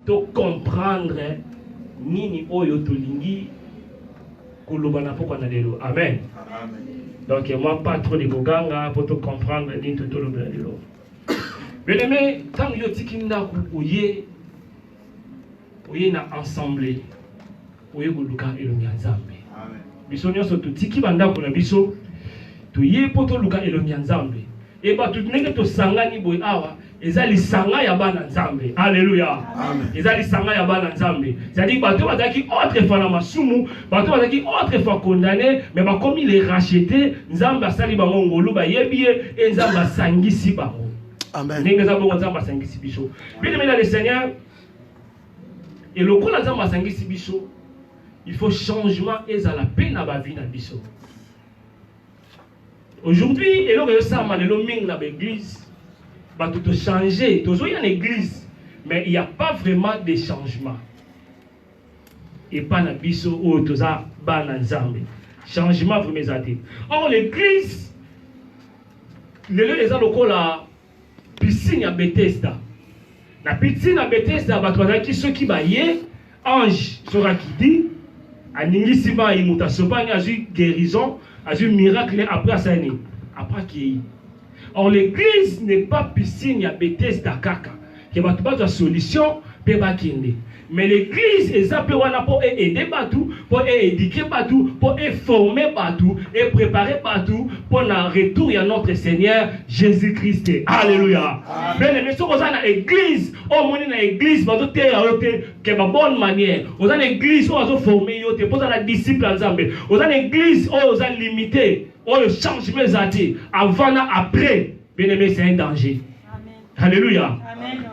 To comprendre nini oyo tolingi koloba na pokwa na lelo. Amen. Donc moi pas trop de koganga pour to comprendre nini to toloba lelo. Bien aimé, tant yo tiki ndaku oye oye na assemblée oye koluka elongi ya nzambe biso nyonso totiki bandako na biso toye mpo toluka elongi ya nzambe e bato ndenge tosangani boye awa eza lisanga ya bana nzambe aleluya eza lisanga ya bana nzambe cetadire bato bazalaki autre fois na masumu bato bazalaki autre fois condamne me bakomi le rachete nzambe asali bango ngolu bayebi ye e nzambe asangisi bango ndenge eza bongo nzambe asangisi biso bino mina le seigneur Et lokola Nzambe asangisi biso, il faut changement ezala pe na ba vie na biso. Aujourd'hui, eloko yo sama lelo mingi na ba église, bato to changer, tozo ya na église, mais il n'y a pas vraiment de changement. Et pas na biso oyo toza bana Nzambe. Changement vraiment ezate. Or l'église lelo eza lokola Piscine ya Bethesda. Na piscine ya Bethesda bato bazalaki soki baye ange soki akidi aningisi mai moto asopani azwi guérison azwi miracle après asani après akei or l'église n'est pas piscine ya Bethesda kaka ke bato bazwa solution mpe bakende mais l'église eza mpe wana mpo e aide bato mpo e éduquer bato mpo e former bato e préparer bato mpo na retour ya notre seigneur jésus christ alleluya bene me soki oza na église oyo omoni na église bazoteya yo te ke ba bonne manière oza na église oyo azoforme yo te mpo oza na disciple ya nzambe oza na église oyo oza limité oyo changement eza te avant na après Bien aimé, c'est un danger. Alléluia.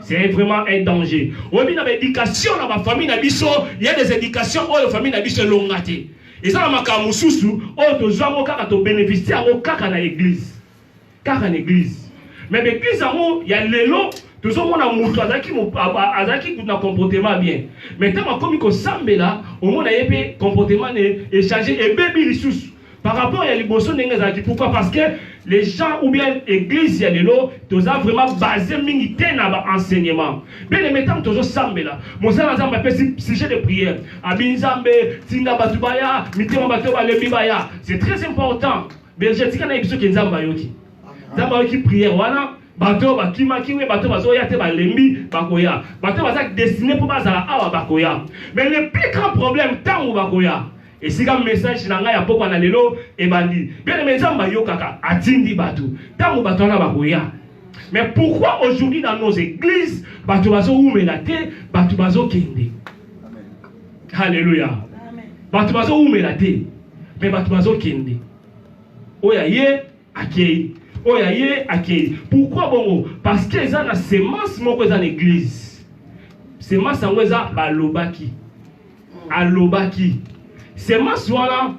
C'est vraiment un danger. Au milieu de l'éducation dans ma famille, il y a des éducations où la famille n'a pas longue. Et ça, ma cam sousou, oh, tu as un cas de bénéficier, au cas à l'église. Car à l'église. Mais l'église, il y a les lots. tozomona moto azalaki azalaki kutu na comportement bien mais ntango akomi kosambela omona ye mpe comportement ne echange ebebi lisusu par rapport ya liboso ndenge ezalaki pourquoi parce que les gens ou bien église ya lelo toza vraiment basé mingi te na ba enseignement bien aimé ntango tozosambela mosala na nzambe apesi sujet de prière abi nzambe tinda bato baya mitema bato balembi baya c'est très important berger tika nayebi soki nzambe ayoki nzambe ayoki prière wana bato oyo bakimaki we bato bazoya te balembi bakoya bato baza destine mpo bazala awa bakoya mais le plus grand problème ntango bakoya esika message na ngai ya pokwa na lelo ebandi bien me nzambe ayokaka atindi bato ntango bato wana bakoya mais pourquoi aujourd'hui dans nos églises bato bazowumela te bato bazokende halleluya bato bazowumela te mais bato bazokende oyo aye akei oyo aye akei pourquoi bongo parce que eza na semence moko eza na église semence yango eza balobaki alobaki semence wana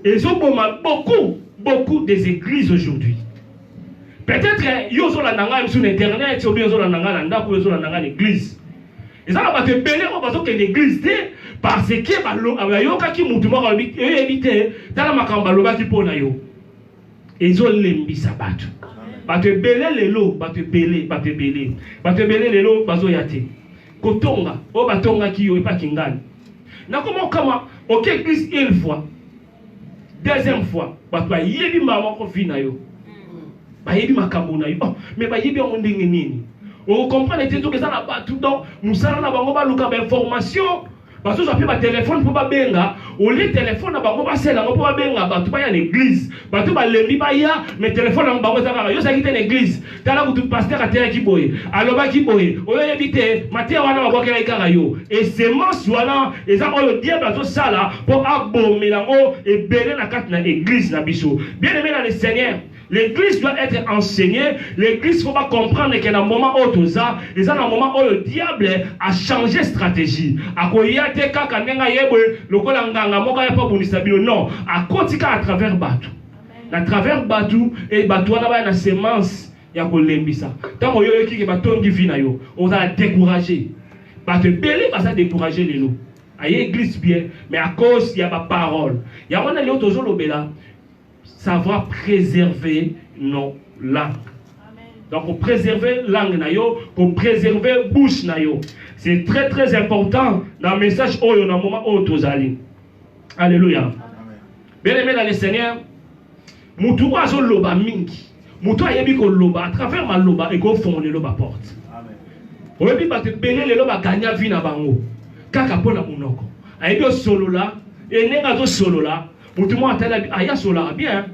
ezoboma beaucoup beaucoup des églises aujourd'hui peut-être yo ozolanda ngai biso na internet obi ozolanda ngai na ndako oyo ozolanda ngai na église eza na bato ebele oyo bazokende église te parce que bayokaki motu moko oyebi te tala makambo balobaki mpo na yo ezo lembisa bato bato ebele lelo bato ebele bato ebele bato ebele lelo bazoya te kotonga oyo batongaki yo epa kingani nakoma okama oke eglise une fois deuxième fois bato bayebi mbala moko vi na yo bayebi makambo na yo oh, me bayebi yango ndenge nini okokomprane te soki eza na bato donc mosala na bango baluka bainformation bazozwa mpe batelefone mpo babenga olie telefone na bango basala yango mpo babenga bato baya na eglize bato balembi baya me telefone yango bango eza kaka yo ozalaki te na eglize tala kutu paster ateyaki boye alobaki boye oyo oyebi te mateya wana babwakelaki kaka yo esemence wana eza oyo diable azosala mpo abomela yango ebele na kati na eglize na biso bien aime na le seigneur L'eglise doit être enseignée, l'eglise faut pas comprendre que na moment oyo toza, eza na moment oyo diable a changé stratégie. Akoya te kaka ndenge ayebwe lokola nganga moko ya pa bonisa bino non, akoti ka à travers batu. Na travers batu et batu wana ba na semence ya kolembisa. Tango yo yoki ke batongi vie na yo, ozala découragé. Batu ebele baza découragé lelo. Aye église bien, mais à cause ya ba parole. Ya wana leo tozolobela Savoir preserver nos langues. Donc, préserver langue na yo, ko préserver bouche na yo. C'est très très important dans le message oyo na moment oyo tozali. Alléluia. Bien aimé dans le Seigneur, mutu oyo azoloba mingi, mutu ayebi koloba à travers maloba ekofongola lelo baporte. Oyebi bato ebele lelo baganya vi na bango kaka mpo na monoko ayebi osolola enenge azosolola Mutu mwa atala aya ah, sola bien. Hein.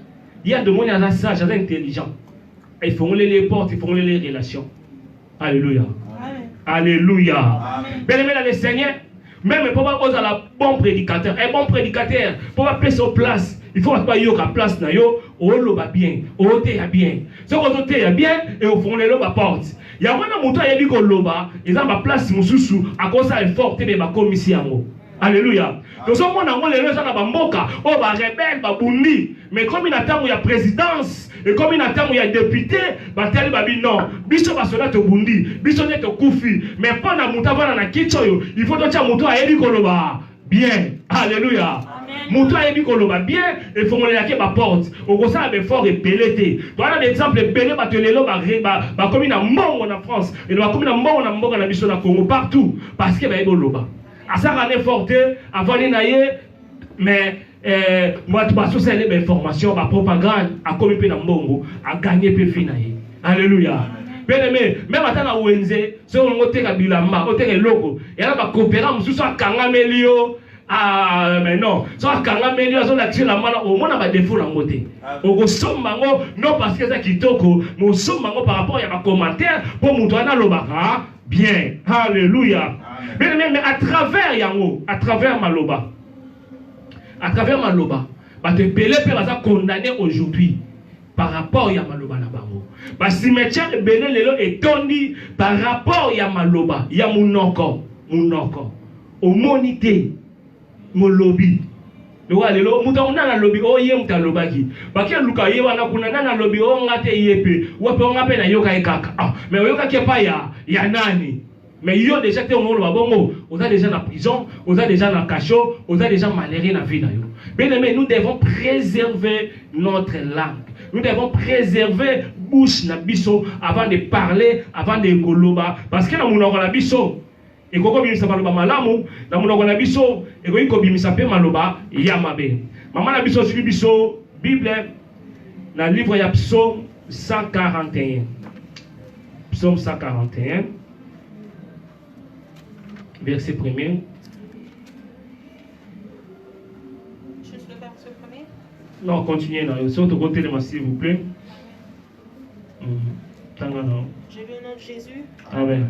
Ye adomoni aza sage, aza intelligent. Efongoli les portes, efongoli les relations. Alléluia. Alléluia. Bien-aimé le Seigneur, même pour pas la bon prédicateur, un bon prédicateur, pour pas payer sur place, il faut pas yo la place na yo, o loba bien, o te ya bien. Ce qu'on te ya bien et au fond les loba porte. Ya wana mutu ayebi ko loba, ils ont ma place mususu à cause ça est fort te ba komisi yango. Alléluia. tozomona yango lelo eza na bamboka oyo oh, barebele babundi mais ekomi na ntango ya présidence ekomi na ntango ya depute batali babi non biso basoda tobundi biso nde tokufi mais mpo na moto avanda na kiti oyo il faut totya moto ayebi koloba bien alleluya moto ayebi koloba bien efongolelaki baporte okosala befort ebele te towana baexemple ebele bato lelo bakomi na mbongo na france elo bakomi na mbongo na mboka na biso na congo partout parce que bayebi oloba asaka ne fort te avandi na ye mais eh, bato basusa ye bainformation bapropagande akomi mpe na mbongo aganye mpe vi na ye alleluya bien aimé meme ata na wenze soki olingi oteka bilamba oteka eloko yana bakopera mosusu akangameli yo Ah, mais non so akangameli yo azolakisa elamba na omona badefo na yango te okosomba yango non parce que eza kitoko mais osomba yango par rapport ya bacommentaire mpo moto wana alobaka bien haleluya beneme à travers yango à travers maloba à travers maloba bato ebele mpe baza condamné aujourd'hui par rapport ya maloba na bango basimetiare ebele lelo etondi par rapport ya maloba ya monoko monoko omoni te molobi lokola lelo moto yango nani alobi o oh, ye moto alobaki bake luka ye wana kuna nani alobi o oh, nga te ye mpe wape o nga mpe nayoka ye kaka ah, mais oyokaki epai ya ya nani mais yo deja te ongoloba bongo oza deja na prison oza deja na cachot oza deja malere na vie na yo bien aimé nous devons préserver notre langue nous devons préserver bouche na biso avant de parler avant de koloba parce que na monoko na biso Ekoki kobimisa maloba malamu na monoko na biso, ekoki kobimisa mpe maloba ya mabe. Mama na biso azwili biso Bible na livre ya Psaume 141. Psaume 141, verset premier. Non, continuez là. Surtout côté de moi, s'il vous plaît. Mm. Je veux au nom de Jésus. Amen.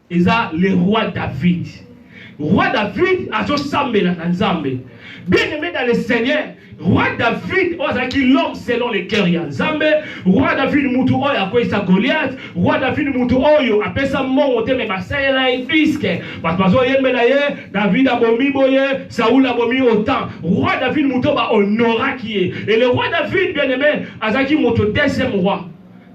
eza le roi David. Roi David azosambela na Nzambe. Bien aimé dans le Seigneur, roi David oyo azalaki l'homme selon le cœur ya Nzambe, roi David mutu oyo akweyisa Goliath, roi David mutu oyo apesa mbongo te me basalela ye disque, bato bazoyembela ye, David abomi boye, Saul abomi otan. Roi David mutu oyo ba honoraki ye. Et le roi David bien aimé azalaki moto deuxième roi.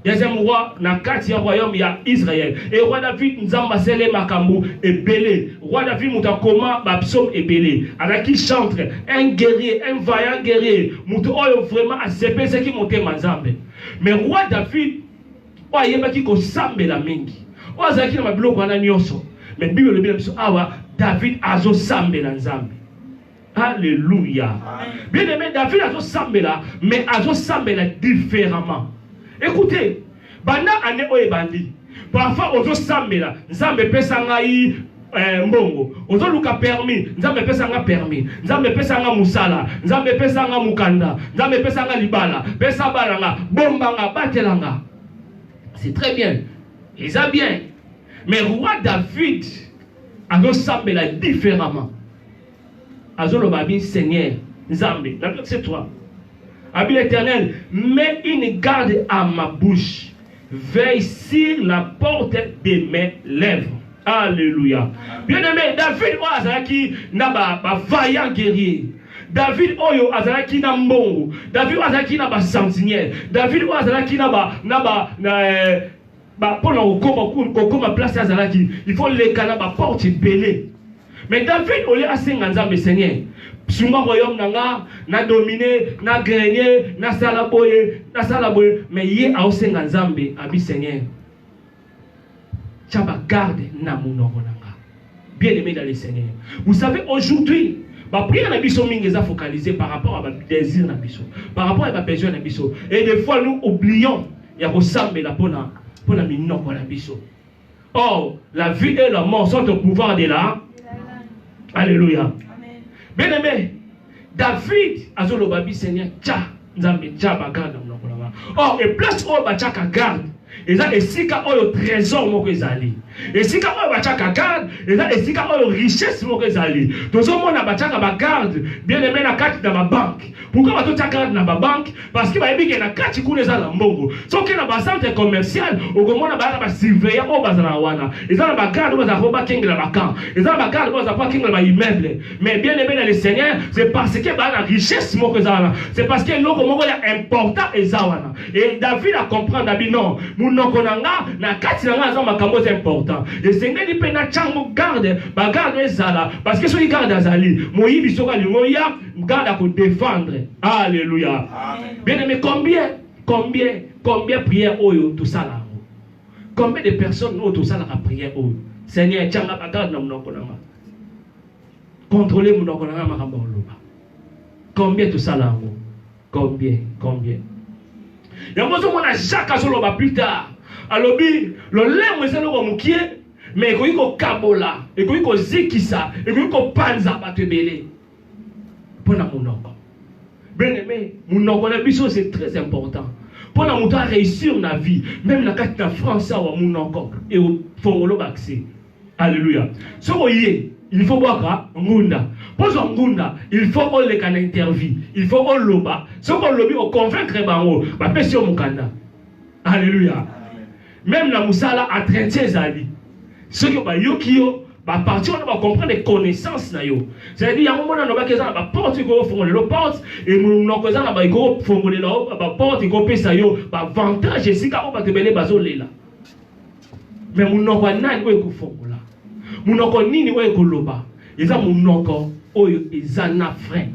deuxième roi na kati ya royaume ya israel e roi david nzambe asele makambo ebele roi david moto akoma bapsaume ebele azalaki chantre un guerrier un vaillant guerrier moto oyo vraiment asepesaki motema nzambe mais roi david oyo ayebaki kosambela mingi oyo azalaki na babiloko wana nyonso mais bible elobi na biso awa david azosambela nzambe Alléluia. Bien aimé, David a sambela, mais a sambela différemment. Écoutez, banda année oyo ebandi, parfois ozo sambela, nzambe pesa ngai eh, mbongo ozoluka permis nzambe epesa nga permis nzambe epesa nga mosala nzambe epesa nga mokanda nzambe epesa nga libala pesa bana nga bomba nga batela nga c'est très bien eza bien mais roi david azosambela différemment azoloba abi seigneur nzambe na biso c'est toi abi l'éternel met une garde à ma bouche veille sur la porte de mes lèvres alléluia bien aimé david oyo azalaki na bavaillant ba guerrier david oyo azalaki na mbongo david oyo azalaki na basamsiniere david oyo azalaki na ba na ba na, eh, ba pona kokoma kokoma place azalaki il faut leka na ba porte ebele mais david olie asenga nzambe seigneur sunga royaume na nga na domine na grenie nasala boye nasala boye mais ye aosenga nzambe abi seigneur tya bagarde na monoko na Bien aimé dans le Seigneur. Vous savez, aujourd'hui, ma prière na biso mingi est focalisée par rapport à ma désir na biso, par rapport à ma besoin na biso. Et des fois, nous oublions ya kosambela pona pona minoko na biso. Or, la vie et la mort sont au pouvoir de la. Alléluia. Bien aimé, David azo loba bi Seigneur tcha nzambe tcha ba garde na munoko na nga. Or et place oyo ba tchaka garde eza esika oyo trésor moko ezali esika oyo batiaka garde eza esika oyo richesse moko ezali tozomona batiaka bagarde bien aime na kati na babanke pourkui batotia garde na babanke parce que bayebi ke na kati kuna eza na mbongo soki na bacentre commercial okomona baya na basurveillant oyo bazalaka wana eza na bagarde oyo bazalaka po bakengela bacamp eza na bagarde oyo bazalaka po bakengela baimmeuble mais bien aimé na le seigneur c'est parce que baya na richesse moko eza wana c'est parce que eloko moko ya important eza wana e david acomprendre abi non monoko na nga na kati na nga aza makambo eza important esengeli mpe na ntango garde bagarde ezala parce que soki garde azali moyibi soki alingo ya Ngada ko defendre. Alléluia. Bien aimé, combien, combien, combien prière oyo tout ça là. Combien de personnes ont tout ça la prière oyo. Seigneur, tchanga bagarde na munoko na nga. Contrôler munoko na nga makambo loba. Combien tout ça là. Combien, combien. Yango zo mona Jacques azoloba plus tard. Alobi lolemo ezali ko mukie mais ekoki kokabola ekoki kozikisa ekoki kopanza bato ebele mpo na monoko bien aimé monoko na biso c'est très important mpo na moto aréussir na vie meme na kati na france awa monoko eofongolo baccès alleluya soki oye il faut bwaka ngunda kozwa ngunda il faut oleka na interview il faut oloba soki olobi oconvaincre bango bapesi yo mokanda Alléluia. Même la musala à traiter ezali. Ceux qui ont bayoki yo ba parti wana ba comprendre les connaissances na yo. C'est-à-dire yango mona lobaki eza na ba porte ko fongola le porte et monoko eza na ba ko fongola yo ba porte ko pesa yo ba avantage esika o bato bele bazo lela. Mais monoko nani oyo ko fongola? Monoko nini oyo ko loba? Eza monoko oyo eza na frein.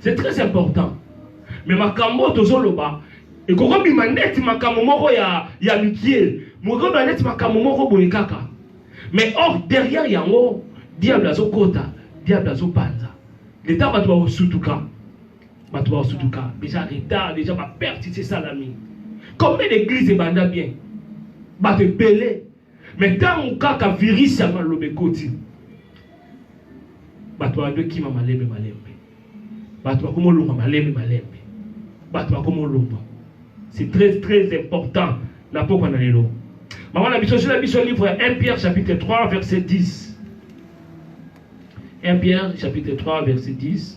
c'est très important mais makambo oyo tozoloba ekoki obima neti makambo moko ya, ya mikie mokoki obima neti makambo moko boye kaka mais or derrière yango diable azokota diable azopanza leta bato bakosutuka bato bakosutuka déjà retard déjà baperte esalami combien d'église ebanda bien bato ebele Mais tango kaka virus ya maloba ekoti bato bato ekima malembe malembe bato bakoma olonga malembe malembe bato bakoma olonga c'est très très important na pokwa na lelo mama na biso zela biso livre ya 1 pierre chapitre 3 verset 10 1 pierre chapitre 3 verset 10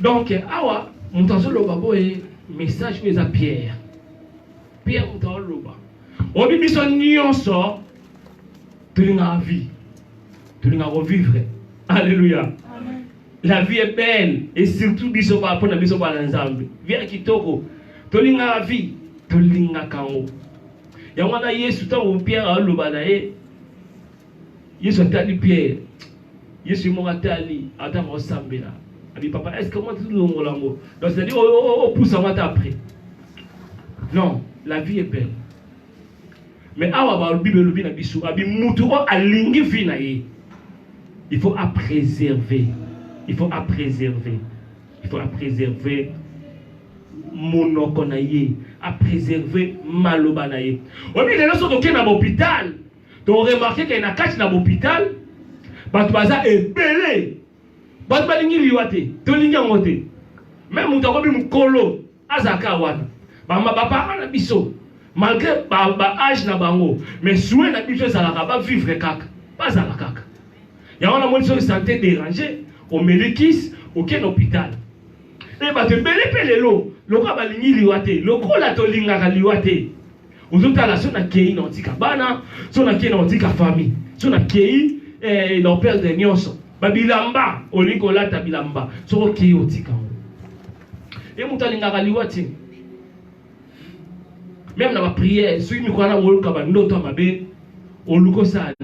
Donc awa moto azoloba boye message oyo eza Pierre. Pierre moto azoloba. Obi biso nyonso tolingaka vie. Tolingaka kovivre. Alléluia. Amen. La vie est belle et surtout biso ba pona biso ba nzambe. Vie kitoko. Tolingaka vie, tolingaka ngo. Yango wana Yesu ntango Pierre aloba na ye Yesu atali Pierre. Yesu moko atali ata ko sambela. Abi papa, est-ce que moi tout le monde lango? Donc c'est-à-dire oh oh oh, oh pousse moi après. Non, la vie est belle. Mais awa ba Bible lobi na biso, abi mutu o alingi vie na ye. Il faut à préserver. Il faut à préserver. Il faut à préserver monoko na ye, à préserver maloba na ye. Obi lelo soki okenda na hôpital To remarquer que na kati na l'hôpital bato baza ebele bato balingi liwa te tolingi yango te meme moto akomi mokolo azalaka wana bama baparent na biso malgré baage na bango mais soin na biso ezalaka bavivre kaka bazala kaka yango namoni soki sante dérange omeli kisi okende hôpital e bato ebele mpe lelo lokola balingi liwa te lokola tolingaka liwa te ozotala so nakei na otika bana so nakei na otika famille so nakei eh, na operde nyonso babilamba olingi kolata bilamba soki okei otika yango ye moto alingaka liwa te meme na bapriere soki mikwana oyokaka bandoto ya mabe oluka osala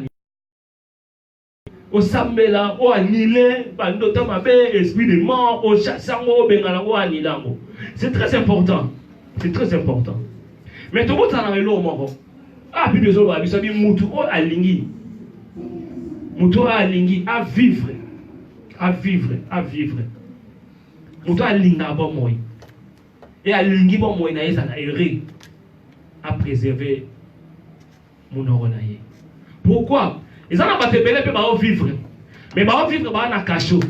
osambela o anile bandota mabe esprit de mort ochasse yango obenga nango anile yango c'est très important c'est très important mais tokotala na eloko moko ah bible ezoloba biso abi mutu oyo alingi mutu oyo alingi avivre avivre avivre mutu alingaka bomoi e alingi bomoi na ye ezala heureux apréserve munoko na ye pourquoi eza na bato ebele mpe bao vivre mais bao vivre baa na cachot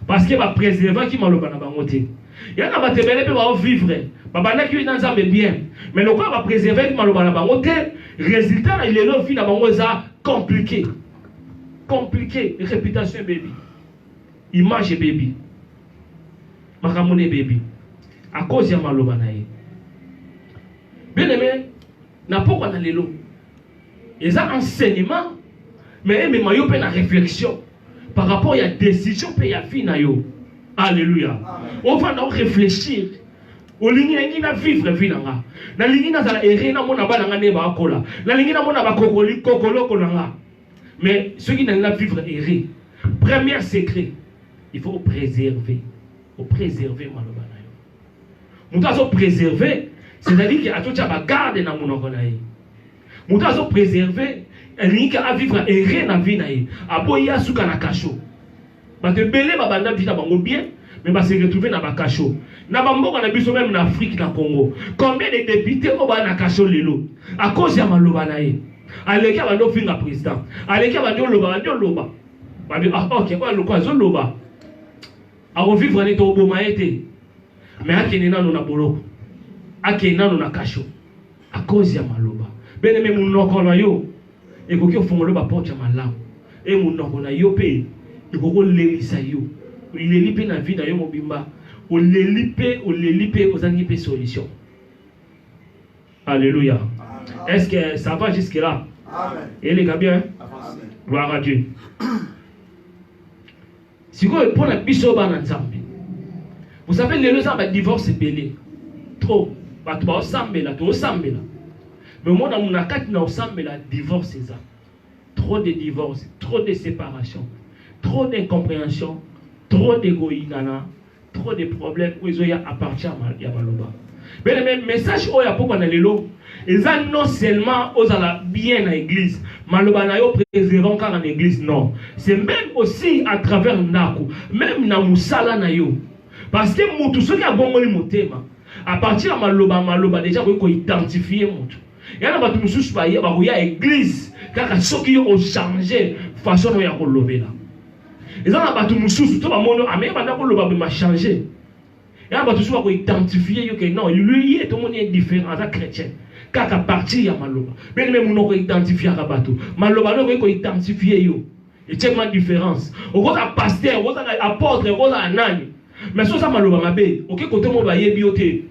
parce que ba préservaki maloba na bango te ya na bato ebele mpe bao vivre babandaki na nzambe bien mais lokola ba préservaki maloba na bango te résultat na lelo vie na bango eza compliqué compliqué réputation ebebi image ebebi makambo na ebebi à cause ya maloba na ye bien aimé Na pokwa na lelo. Eza enseignement mais emema yo mpe na réflexion par rapport ya décision mpe ya vie na yo. Alléluia. Ofanda o réfléchir olingi nalingi na vivre vie na nga nalingi nazala ere namona bana nga nde baakola nalingi namona bakokoli kokoloko na nga mais soki nalingi na vivre ere première secret il faut opréserve opréserve maloba moto azo preserve c'est-à-dire ke atotya bagarde na monoko na ye moto azo preserve alingi ke avivre ere na vie na ye aboyi asuka na kasho bato ebele babanda vie na bango bien mais ba se retrouver na ba cachot na ba mboka na biso même na Afrique na Congo combien de députés oyo ba na cachot lelo à cause ya maloba na ye aleki abandi ofinga président aleki abandi oloba abandi oloba babi ah ok oyo aloko azoloba Ako vivre ne to boma ye te. Mais akende nano na boloko. Akende nano na kasho. A cause ya maloba. Bene me munoko na yo ekoki ofongolo ba porte ya malamu. E munoko na yo pe ekoki olelisa yo. Oleli pe na vie na yo mobimba. Oleli pe oleli pe ozangi pe solution. Alléluia. Est-ce que ça va jusque là? Amen. Et les bien? Amen. Gloire à Dieu. sikoyo mpo na biso bana nzambe bosape lelo eza ba divorce ebele trop bato baosambela toosambela me omona na kati na osambela divorce eza trop de divorce trop de séparation trop d'incompréhension trop de koyinana trop de problème oyo ezoya à partir ya maloba bele me message oyo apokwa na lelo eza non seulement ozala bien na église maloba na yo préservant kaka na église non c'est même aussi à travers ndako même na mosala na yo parce que motu soki abongoli motema à partir ya maloba maloba deja akoki koidentifie motu ya na bato mosusu bakoya église kaka soki yo ochange façon na yo ya kolobela eza na bato mosusu to bamono ame ah, banda koloba me machange ya bato mosusu bakoidentifie yo ke non ye tomoni ye différent aza chrétien kaka partir ya maloba bene me monoko identifiaka bato maloba nde okoki koidentifie yo etiema différence okozala paster okozala apôtre okozala nani mais so oza maloba mabe oke kote mo bayebi yo te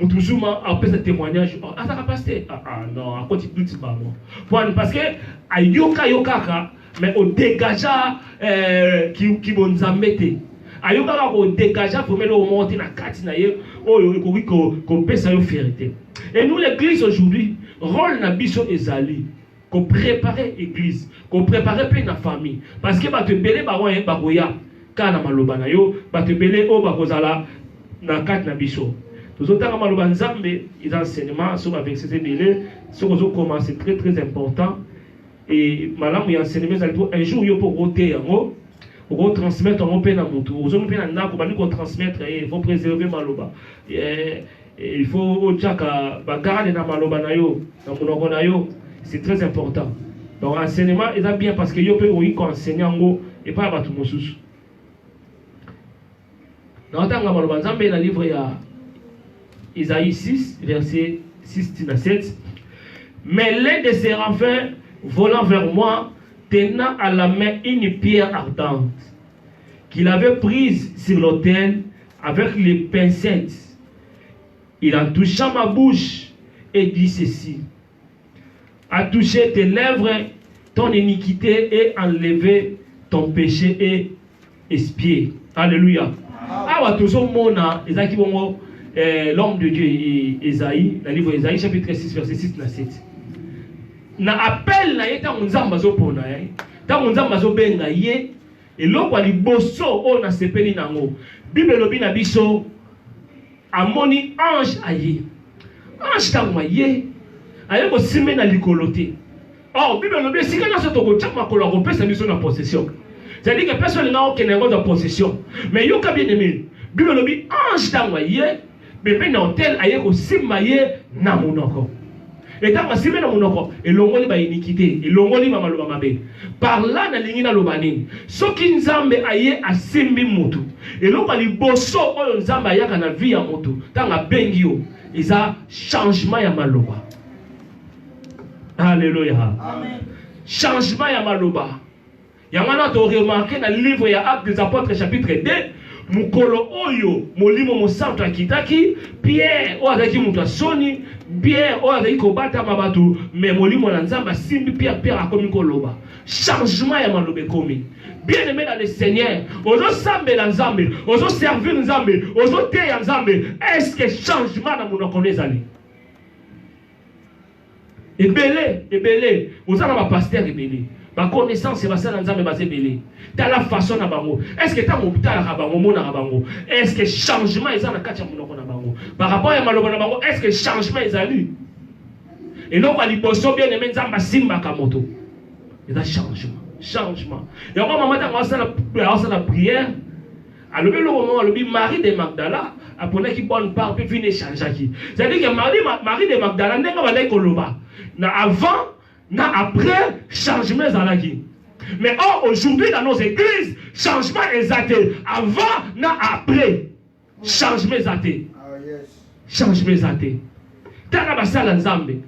Mutuzuma apesa témoignage oh, azaka pasteur ah, ah, non akoti doute bango pwani parce que ayoka yo kaka mais odegaja eh, kibonzambe ki te ayokaka kodegaja vraimen eloko moko te na kati na ye oyo ekoki kopesa yo fierité et nous l'église aujourd'hui rôle na biso ezali ko preparer eglise ko preparer pe na famille parce que bato ebele bango ye bakoya kaka na maloba na yo bato ebele oyo bakozala na kati na biso tozotanga maloba nzambe eza enseignement soki baverse eza ebele soki ozokoma c'est très très important e malamu ya enseignement ezali mpo un jour yo mpo okoteya yango okotransmettre yango mpe na motu ozongi mpe na ndako bandi kotransmettre ye faut préserver maloba Il faut otiaka ba garde na maloba na yo na monoko na yo, c'est très important. Donc enseignement eza bien parce que yo mpe okoki ko enseigner yango epai ya bato mosusu. Na otanga maloba Nzambe na livre ya Isaïe 6 verset 6 tina 7 mais l'un des séraphins volant vers moi tenant à la main une pierre ardente qu'il avait prise sur l'autel Avec les pincettes, il a touché ma bouche et dit ceci. A touché tes lèvres, ton iniquité et enlevé ton péché et espié. Alléluia. Awa tozomona ezalaki bongo eh, l'homme de Dieu Esaïe, le livre Esaïe chapitre 6 verset 6 na 7. Na appel na ye ntango Nzambe azopona ye, ntango Nzambe azobenga ye, Eloko ya liboso oyo nasepeli na yango, Bible elobi na biso amoni ange aye. Ange ntango aye, aye kosimbe na likolo te. Or, Bible elobi esika nyonso tokotya makolo akopesa biso na possession. C'est-à-dire que personne n'a okende yango na possession. Mais yoka bien aimé, Bible elobi ange ntango aye Bebe na hotel aye kosimba ye na monoko. Etango asimbi na monoko elongoli ba iniquite, elongoli ba maloba mabe. Par là nalingi naloba nini? Soki Nzambe aye asimbi mutu, eloko ya liboso oyo Nzambe ayaka na vie ya mutu ntango abengi yo eza changement ya maloba. Alléluia. Amen. Changement ya maloba. Yango wana to remarquer na livre ya Actes des Apôtres chapitre 2 mokolo oyo molimo mosantu akitaki pierre oyo azalaki moto ya soni pierre oyo azalaki kobatama bato me molimo na nzambe asimbi pierre pierre akomi koloba changement ya maloba ekomi bien aimé dans le seigneur ozosambela nzambe ozoservir nzambe ozoteya nzambe est ce que changement na monoko no ezali ebele ebele oza na bapastere ebele baconnaissance ya basala nzambe baza ebele tala façon na bango estce ntango otalaka bango omonaka bango estce changement eza na kati ya monoko na bango par rapport ya maloba na bango estce changement ezali eloko ya liboso bien aime nzambe asimbaka moto eza changement changement yango mama ntango asala prière alobi eloko moko alobi marie de magdala aponaki bonne part mpe vino echangeaki cetadire ke marie de magdala ndenge abandaki koloba na avant na après changement ezalaki mais or aujourd'hui dans nos églises changement eza te avant na après changement eza te ah, changement eza te tanga basala nzambe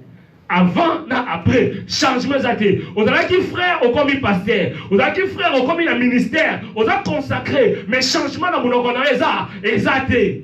avant na après changement eza te ozalaki frère okomi pasteur ozalaki frère okomi na ministère oza consacré mais changement na monoko na yo eza eza te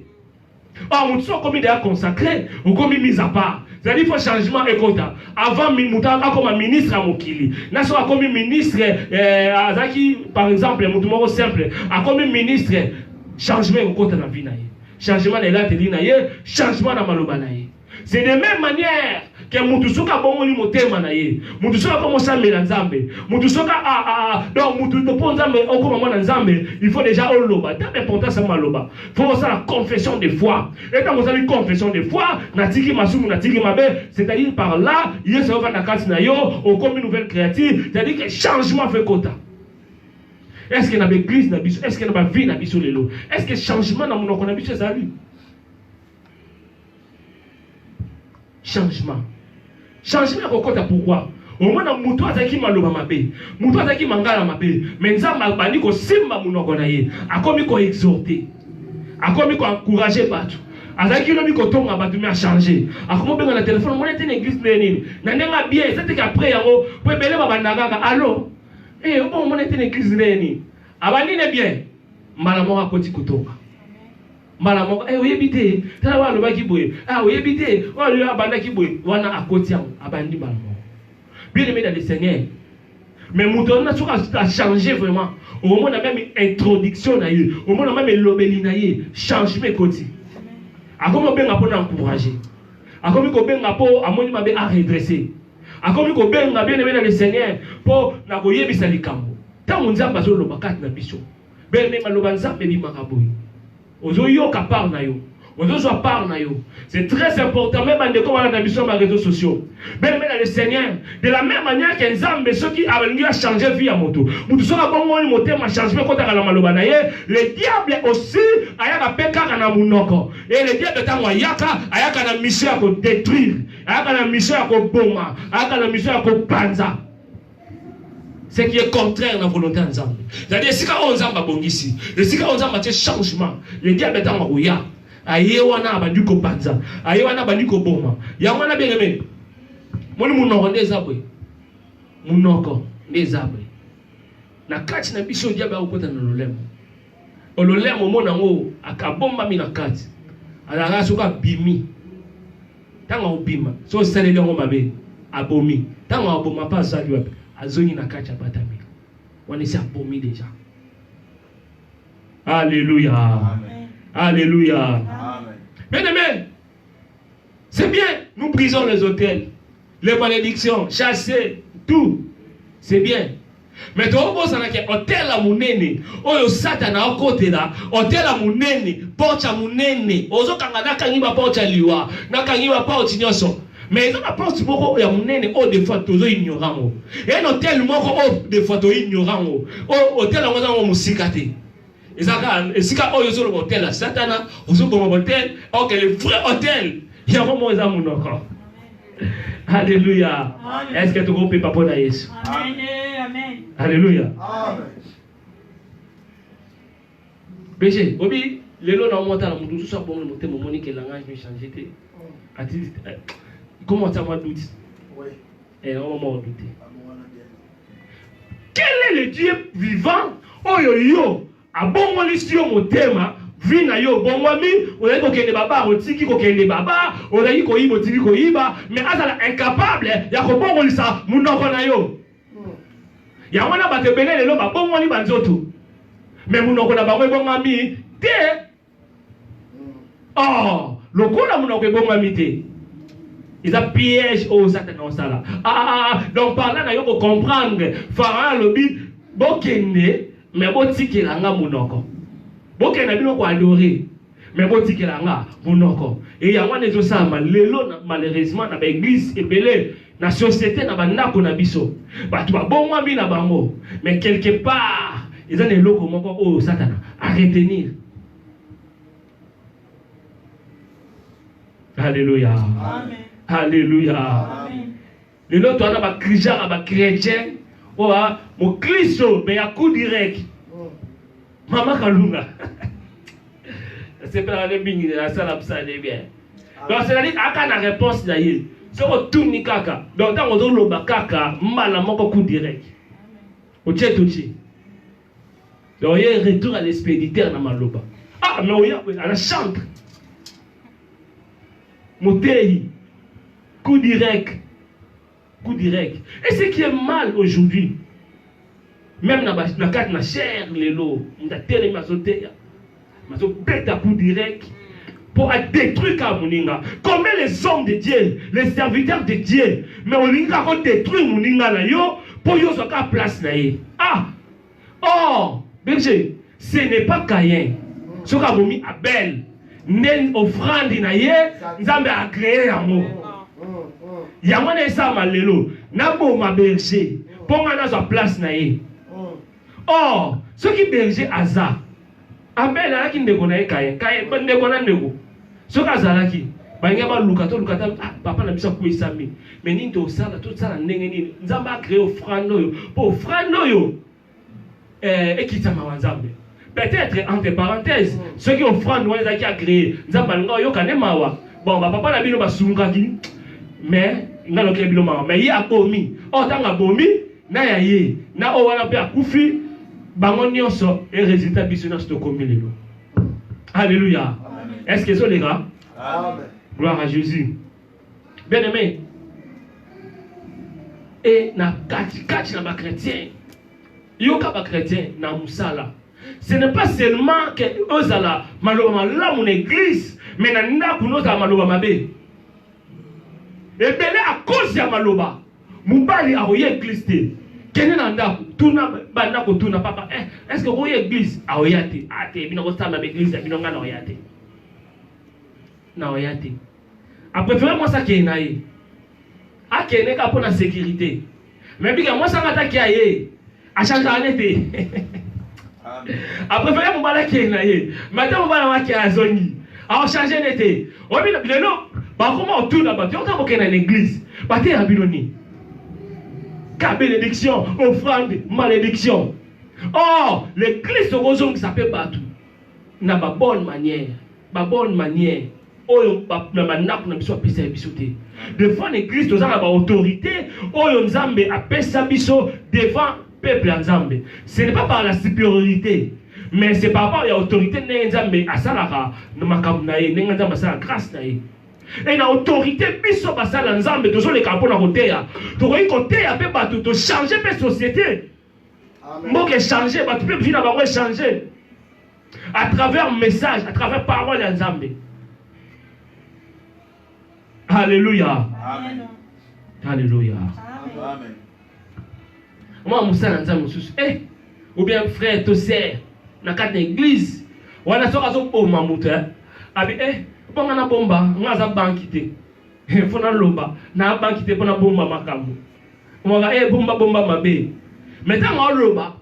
or motu so okomi deya consacré okomi mise à part zali fo changement ekota avant motu akoma ministre ya mokili na soki akomi ministre eh, azalaki par exemple motu moko simple akomi ministre changement ekokota na vie na ye changement na elateli na ye changement na maloba na ye C'est de même manière que mutu soki abongoli motema na ye mutu soki akoma osambela nzambe mutu soki ah, ah, ah, donc mutu mpo nzambe okoma mwana nzambe il faut déjà oloba ta importance ya maloba fo osala confession de foi e ntango osali confession de foi natiki masumu natiki mabe c'est-à-dire par là yesu ayofanda kati na yo okomi nouvelle créature c'est-à-dire que changement fo ekota est ce que na baeglise na biso est ce que na bavie na biso lelo est ce que changement na monoko na biso ezali changement changement ya kokota pourquoi omona moto azalaki maloba mabe moto azalaki mangala mabe me nzambe abandi kosimba monoko na ye akomi koexorte akomi koencourage bato azalaki lobi kotonga bato me achange akomi obenga na telefone omona te na eglise ndenge nini na ndenge abie eza teke apres yango po ebele babanda kaka alo e eh, obo omona te na eglise ndenge nini abandi ne bien mbala moko akoti kotonga mbala moko eh, oyebi te tala oyo alobaki boye ah, oyebi te oyo abandaki boye wana akoti yango abandi mbala moko bien aimé dans le seigneur mais moto wana soki achange vraiment omona meme introduction na ye omona meme elobeli na ye changement ekoti akomi kobenga mpo na encourage akomi kobenga mpo amoni mabe aredresse akomi kobenga bien aimé dans le seigneur mpo na koyebisa likambo ntango nzambe azoloba kati na biso Belle meme aloba nzambe ebimaka boye. Ozoyoka part na yo. Ozozwa part na yo. C'est très important même bandeko wana na biso ba réseaux sociaux. Belle meme na le Seigneur de la même manière que nzambe soki alingi a changer vie ya moto. Moto soki abongoli motema changement ekotaka na maloba na ye, le diable aussi ayaka mpe kaka na monoko. Et le diable ntango ayaka, ayaka na mission ya ko détruire, ayaka na mission ya koboma, ayaka na mission ya kopanza. ce qui est contraire na volonté ya nzambe zali esika oyo nzambe abongisi esika oyo nzambe atie changement le diable ntango akoya aye wana abandi kopanza aye wana abandi koboma yango wana bengeme moni monoko nde eza boye monoko nde eza boye na kati na biso diable akokota na lolemo ololemo omona yango akabombami na kati alaka soki abimi ntango akobima so osaleli yango mabe abomi ntango aboma mpe azali wapi azongi na kati abatami wana esi abomi deja aleluya aleluya bien aime C'est bien, nous brisons les hôtels, les malédictions, chasser, tout. C'est bien. Mais tu as que hôtel à mounene, oyo satana à côté là, hôtel à mounene, porte à mounene, ozo kanga na kangi ba porte à liwa, na kangi ba porte nyoso. Mais ils ont la porte moko ya mounene, oh des fois tozo ignorant. Et un hôtel moko oh des fois to ignorant. Oh hôtel à mounene, oh moussikaté. eza kaka esika oyo ozoloba hotel ya satana ozoboma hotel ok le vrai hotel yango moko eza monoko alleluya eske tokopepa mpo na yesu alleluya bege obi lelo na omotala moto mosusu abongo motema omoni ke langage mechange te atindi komo atiama duti Eh, on m'a douté. Quel est le Dieu vivant oyo yo abongolisi yo motema vi na yo obongwami ozali kokende baba otiki kokende baba ozali koyiba otiki koyiba me azala incapable ya kobongolisa monoko na yo yango wana bato ebele lelo babongoli banzoto me monoko na bango ebongami te oh lokola monoko ebongami te eza piège oyo satana osala ah, ah, ah, ah. donc parla na yo kocomprendre fara alobi bokende me botikela nga monoko bokenda bino koadore me botikela nga monoko e yango wana ezosalama lelo malheureusement na baeglise ebele Na societe na ba ndako na biso batu ba bongwami na bango mais quelque part eza na eloko moko oyo satana a retenir Alléluia. Amen. Alléluia. Amen. lelo toza na bakrijaka bachrétien oyo a moklisto me ya coup direct mama kalunga sepelaka nde mingi na asala mosala nde bien ah. donc cetadi aka na réponse na ye soki otuni kaka donc ntango ozoloba kaka mbala moko coup direct otie totie donc ye retour à l'expéditeur na maloba ah mais oya ana chantre moteyi coup direct coup direct et ce qui est mal aujourd'hui même na ba- na kati na chair lelo moto atelemi azoteya azobeta coup direct pour à détruire ka moninga combien les hommes de dieu les serviteurs de dieu mais olingi kako détruire moninga na yo mpo yo ozwa ka place na ye ah Or, berger, ce n'est pas Caïn. Soki abomi Abel, nde ofrandi na ye Nzambe a créer yango. Yango wana esalama lelo, naboma berger mpo ngai nazwa place na ye. Or, soki berger aza Abel ayaki ndeko na ye Kain. Kain ba ndeko na ndeko. Soki azalaki balinga baluka to luka ah, papa na biso akwesami me nini tosala tosala ndenge nini nzambe acree ofrande oyo mpo ofrande oyo eh, ekitisa mawa nzambe peut-être entre parenthèse mm. soki ofrande wana ezalaki acree nzambe alinga oyoka nde mawa bon bapapa na bino basungaki mais nga nokela bino mawa mais ye abomi oyo oh, ntango abomi na ya ye na oyo wana mpe akufi bango nyonso e resultat biso nyonso tokomi lelo alléluia est ce que ezoleka gloire à jésus bien aimé e na katikati na bachrétien yoka bachrétien na mosala ce n'est pas seulement que ozala maloba malamu na église mais na ndako nozala maloba mabe ebele a cause ya maloba mobali akoya eglise te kende na ndako tuna banda kotuna papa eh, est ce que okoya eglise aoya te a ah, te bino kosamba ba eglise ya bino ngai naoya te naoya te apréfere mwasi akende na ye akende kaka mpo na sécurité Mais bika mwasi anga ataki ya ye achangeaka ne te aprefere mobali akei na ye me ata mobali yango akei azongi aochange ne te obi lelo bakoma otuna bato yoka bokei na l'église bateya bino nini ka bénédiction offrande malédiction or l'église okozongisa mpe bato na babonne manière babonne manière oyo na bandako na biso apesa ya biso te devant l'église toza na baautorité oyo nzambe apesa biso devant peuple ya nzambe ce n'est pas par la supériorité mais c'est par rapport ya autorité ndenge nzambe asalaka na makambo na ye ndenge nzambe asala grâce na ye e na autorité biso basala nzambe tozoleka mpo na koteya tokoki koteya mpe bato tochange mpe société mboka echange bato mpe vie na bango echange à travers message à travers parole ya nzambe halleluya halleluya mwa mosala nzambe mosusu e eh, ou bien frère to sere na kati na église wana soki azoboma moto eh, abi e eh, mpo nga nabomba nga aza banki te mpo naloba na banki te mpo nabomba makambo Mwaka e bomba bomba mabe. Mais tango aloba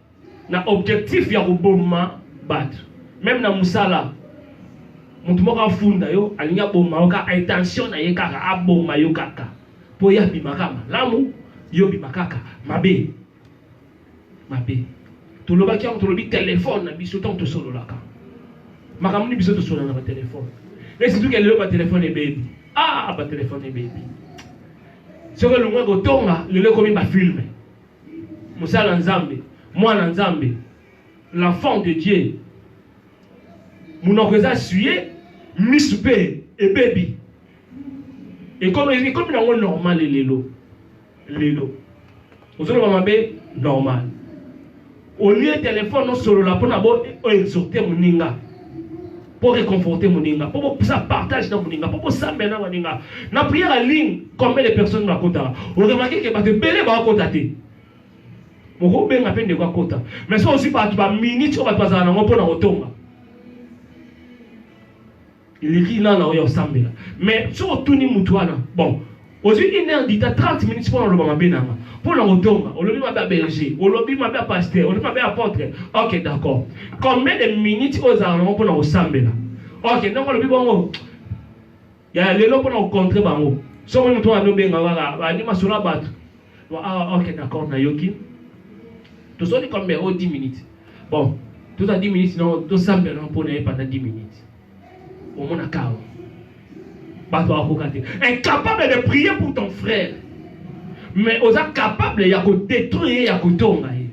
na objectif ya koboma bato meme na mosala moto moko afunda yo alingi aboma yo kaka intention na ye kaka aboma yo kaka mpo ye abima kaka malamu yo obima kaka mabe mabe tolobaki yango tolobi telefone na biso ntango tosololaka makambo nini biso tosolola na batelefone mais surtout ke lelo batelefone ebebi ah batelefone ebebi soki elongwe kotonga lelo ekomi bafilme mosala nzambe mwana nzambe l'enfant de dieu monoko eza suye misu mpe ebebi ekomi nango normale lelo lelo ozoloba mabe normal au lieu telefone osolola mpona bo exhorte moninga pour réconforter moninga pour bo ça partage na moninga pour bo sambe na moninga na prière en ligne combien de personnes ba kota on remarque que bato ebele ba kota te moko benga pe ndeko akota mais so osi bato ba minutes oyo bato bazala nango mpo na kotonga Il rit là, là, oyo osambela. Mais soki otuni mutu wana, bon, ozwi une heure du temps 30 minutes mpo na oloba mabe na nga mpo na kotonga olobi mabe ya berger olobi mabe ya pasteur olobi mabe ya apôtre ok d'accord combien de minutes oyo ezalaka nango mpo na kosambela ok ndenge olobi bongo ya lelo mpo na kocontre bango soki moto wana obenga kaka bandi masolo ya bato ah, ok d'accord nayoki tosoli combien o 10 minutes bon toza 10 minutes no tosambela nango mpo na ye pendant 10 minutes omona kawa bato bakoka te incapable de prier pour ton frère mais oza capable ya kodétruire ye ya kotonga ye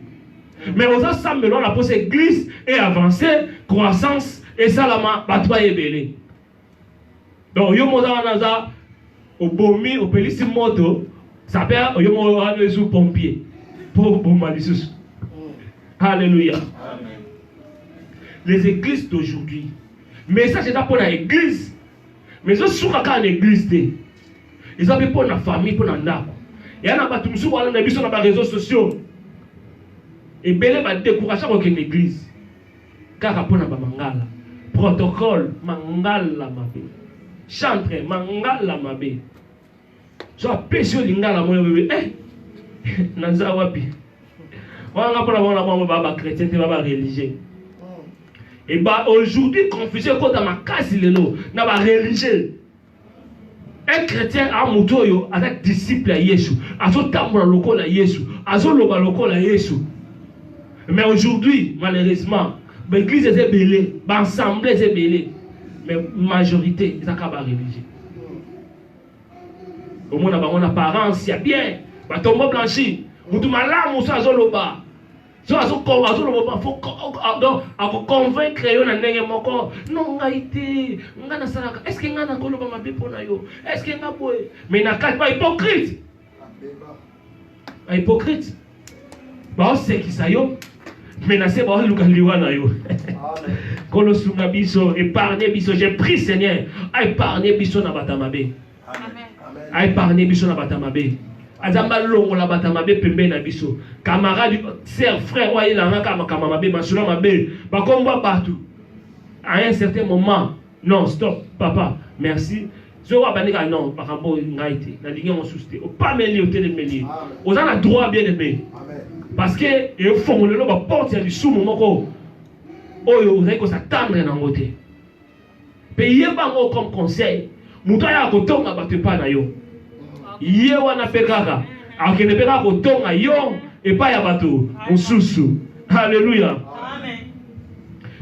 mais oza sambela wana mposa église e avance croissance esalama bato baye ebele donc yo moza wana aza obomi opelisi moto sape oyo moko wana ezu pompier mpo oboma lisusu halleluya les églises d'aujourd'hui message eza mpo na église mais ezosuka kaka na église te eza mpe mpo na famille mpo na ndako ya na bato mosusu wana na biso na bareseau sociaux ebele badécourage kokende église kaka mpo na bamangala protocole mangala mabe chantre mangala mabe so apesi yo lingala moyo bebe eh, naza wapi wana mpona bango na bango baa bachrétien te baa bareligieux eba aujourd'hui confusion ekota makasi lelo na bareligieux Un chrétien a moto oyo aza disciple ya Yesu, azotambola lokola Yesu, azoloba lokola Yesu. Mais aujourd'hui, malheureusement, ba église eza ebele, ba ensemble eza ebele, mais majorité ezaka ba religieux. Omona bango na apparence ya bien, batombo blanchi, mutu malamu so azoloba so azoloba fo akoconvaincre yo na ndenge moko no ngai te ngai nasalaka estce ngai nakoloba mabe mpo na yo estce ngai boye mai na kati bahypocrite bahypocrite baosekisa yo mai na se baoluka liwa na yo kolosunga biso epargne biso je prie seigneur aepargne biso na bato ya mabe a épargné biso na bata mabe azamba alongola bata mabe pembeni na biso camarade sœur frère oyo ayelanga kaka makambo mabe masolo mabe bakombo bato à un certain moment non stop papa merci soki abandi kaka non makambo oyo ngai te nalingi yango susu te opameli otelemeli oza na droit bien aimé parce que efongolelo baporte ya lisumu moko oyo ozali kosatandre nango te Mpe yeba yango comme conseil, moto ayaka kotonga bato epai na yo, ye wana mpe kaka akende mpe kaka kotonga yo epai ya bato mosusu. Alléluia.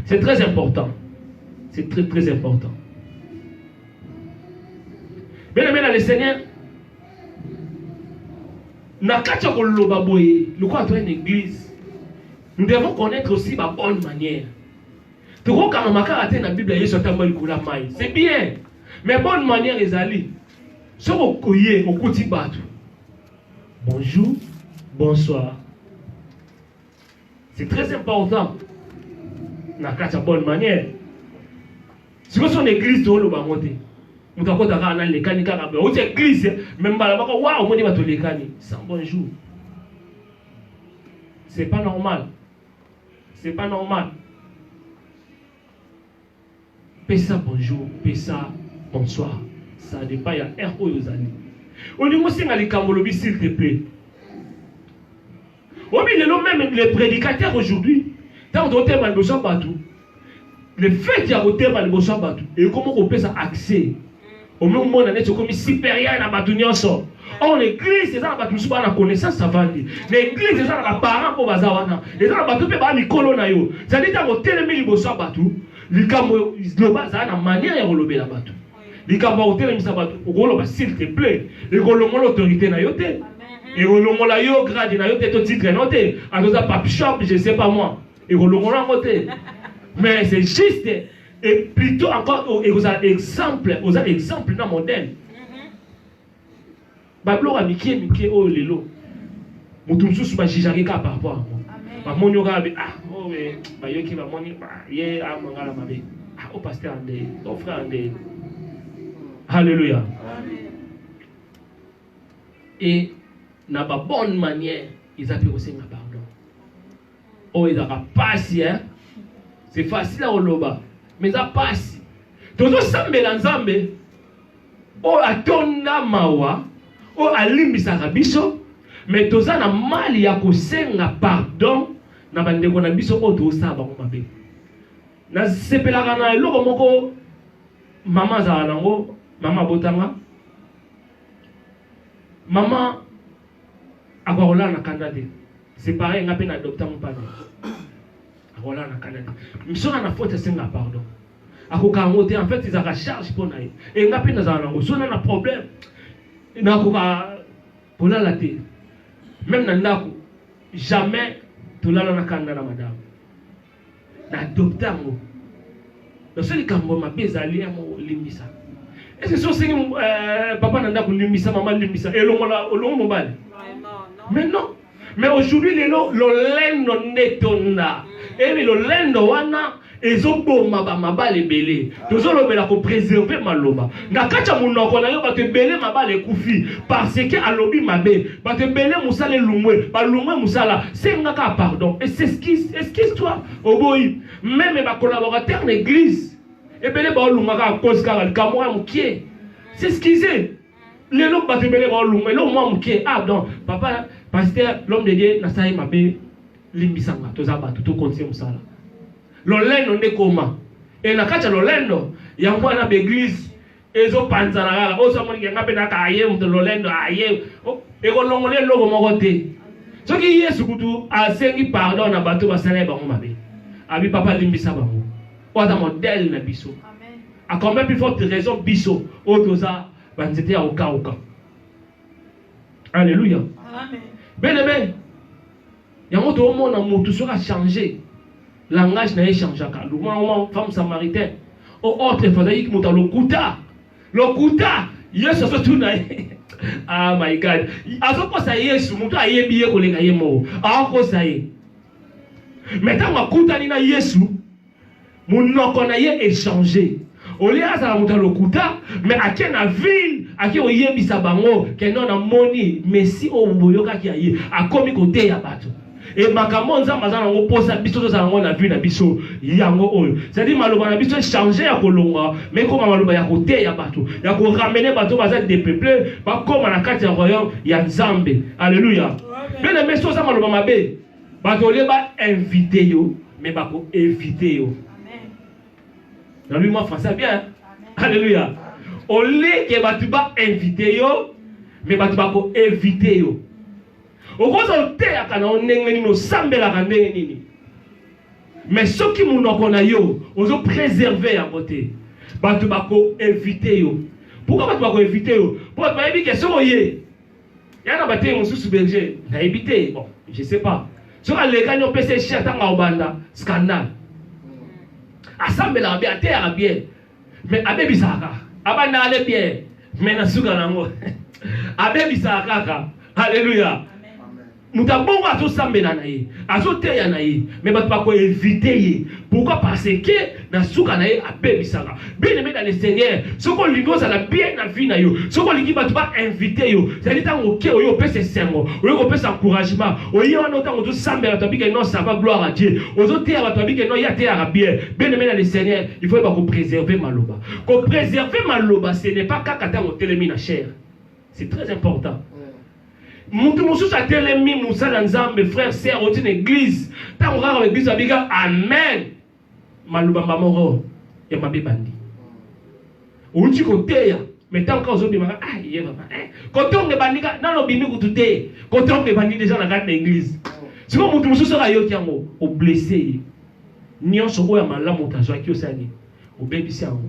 C'est très important. C'est très très important. Bien aimé dans le Seigneur, na kati ya koloba boye lokola to une église nous devons connaître aussi ba bonne manière tokokanga makaka te na biblia yesu atamba likolo ya mai c'est bien mais bonne manière ezali soki okoye okuti bato bonjour bonsoir c'est très important na kati ya bonne manière sikoyo so na église tooloba yango te moto akota kaka na lekani kaka boye outi église me mbala moko wa omoni bato lekani sans bonjour c'est pas normal C'est pas normal. Pesa bonjour, pesa bonsoir. Ça dépend ya heure oyo ozali. Olingi osenga likambo lobi s'il te plaît. Obi lelo même les prédicateurs aujourd'hui, ntango totema liboso ya bato le fait ya kotema liboso ya bato ekomi kopesa accès omimona neti okomi superieur na bato nyonso or na eglise eza na bato mosusu baa na connaissance avandi na eglise eza na baparent mpo baza wana eza na bato mpe baa mikolo na yo zali ntango otelemi liboso ya bato likambo loba azala na manière ya kolobela bato likambo ya kotelemisa bato okoloba s'il te plaît ekolongola autorité na yo te ekolongola yo grade na yo te to titre na yo te azoza pape shop je sais pas moi ekolongola yango te mais c'est juste et plutôt encore oh, ekozala exemple oza exemple na modèle mhm. babiloko ya mikie mikie oyo lelo moto mosusu bajijake kaka par rapport yango bamoni yo kaka ah oh, eh, bayoki bamoni ye amangala ah, mabe ah, o oh, paster nde o oh, frère nde halleluya e na babonne manière eza mpe kosenga pardon oyo oh, ezalaka pasi hein? c'est facile ya koloba mais eza pasi tozosambela nzambe oyo oh, atonda mawa oyo oh, alimbisaka biso mais toza na mali ya kosenga pardon na bandeko na biso oyo tozosala bango mabe nasepelaka na eloko moko mama azala nango mama abotanga mama akoka kolala na kanda te C'est pareil, nga pe na adopta mupana. Akola na Canada. Msona na faute senga pardon. Akoka yango te, en fait ils ont charge pour naye. Et nga pe nazala nango, sona na problème. Na koka kolala te. Même na ndako, jamais tolala na Canada na madame. na adopte yango naso likambo ya mabe ezali yango olimbisa ese so osengi euh, papa na ndako limbisa mama limbisa elongola olongo mobali mais non mais aujourd'hui lelo lolendo nde etonda mm. ebi lolendo wana ezoboma bamabala ebele tozolobela kopréserve maloba na kati ya monoko na yo bato ebele mabala ekufi parce que alobi mabe bato ebele mosala elungwe balungwe mosala senga kaka pardon eseskise eskise toi oboyi meme bakolaborateur na eglise ebele baolunga kaka kozi kaka likambo ya mokie seskise lelo bato ebele baolunga eloko mwa mokie ah donc papa paster l'homme de dieu nasali mabe limbisanga toza bato tokontinue mosala Lolendo nde ekoma. Et na kati ya lolendo, yango wana b'eglise ezopanzana kaka. Oyo amoni ke nga mpe naka aye moto lolendo aye. Ekolongola eloko moko te. Soki Yesu kutu asengi pardon na bato basala ye bango mabe. Abi papa limbisa bango. Oyo aza modèle na biso. A combien plus forte raison biso oyo toza banzete ya kokauka. Alléluia. Amen. Bien aimé, Yango toomona mutu soki a changer langage na ye changeaka. Lukuma uma femme samaritain o autre efazaki kimuta lokuta lokuta Yesu azotuna ye ah my God, azokosa Yesu mutu ayebi ye koleka ye moko akosa ye. Mais ntango akutani na Yesu Munoko na ye e changer. Au lieu azala moto ya lokuta, mais ake na ville, ake koyebisa bango que non namoni Messie oyo boyokaki ya ye, akomi koteya bato. Et makambo oyo Nzambe aza na yango posa biso tozala yango na vie na biso yango oyo. C'est-à-dire maloba na biso echange ya kolongwa, mais ekoma maloba ya koteya bato, ya ko ramener bato baza depeuple bakoma na kati ya royaume ya Nzambe. Alleluia. Bien aimé, soki oza maloba mabe, bato olie ba invite yo me bako evite yo nalobi mwa français bien alleluya oleke bato ba invite yo me bato bako evite yo okoza oteyaka na yo ndenge nini osambelaka ndenge nini me soki monoko na yo ozo preserve yango te bato bako evite yo pourkui bato bako evite yo mpo bato bayebi ke soki oye ya na batei mosusu berger nayebi te bon je sais pas soki alekani opesa ye share ntango aobanda scandale asambelaka bien ateyaka bien mais abebisaka kaka abanda ale bien mais na suka na yango abebisaka kaka alleluya moto ya bongo azosambela na ye azoteya na ye me bato bakoevite ye pourkui parce ke na suka na ye abebisaka bien aime na le seigneur soki olingi ozala bien na vie na yo soki olingi bato bainvite yo zali ntango oke oyo opesa esengo oyo kopesa encouragement oye wana ntango ozosambela bato abike non sava gloire a dieu ozoteya bato abike non ye ateyaka bien bien aime na le seigneur il faut yeba kopréserve maloba kopréserve maloba ce n'est pas kaka ntango otelemi na chaire c'est très important mutu mosusu atelemi mosala nzambe frère sœur oti na église ntango kaka église abika amen maloba mamoko ya mabe bandi outi koteya me ntango kaka ozobimaka ah ye papa eh, kotonga ebandi ka nano obimi kutu te kotonga ebandi deja na kati na église siko motu mosusu oyo ayoki yango oblesse ye nyonso oyo ya malamu otazwaki osali obebisi yango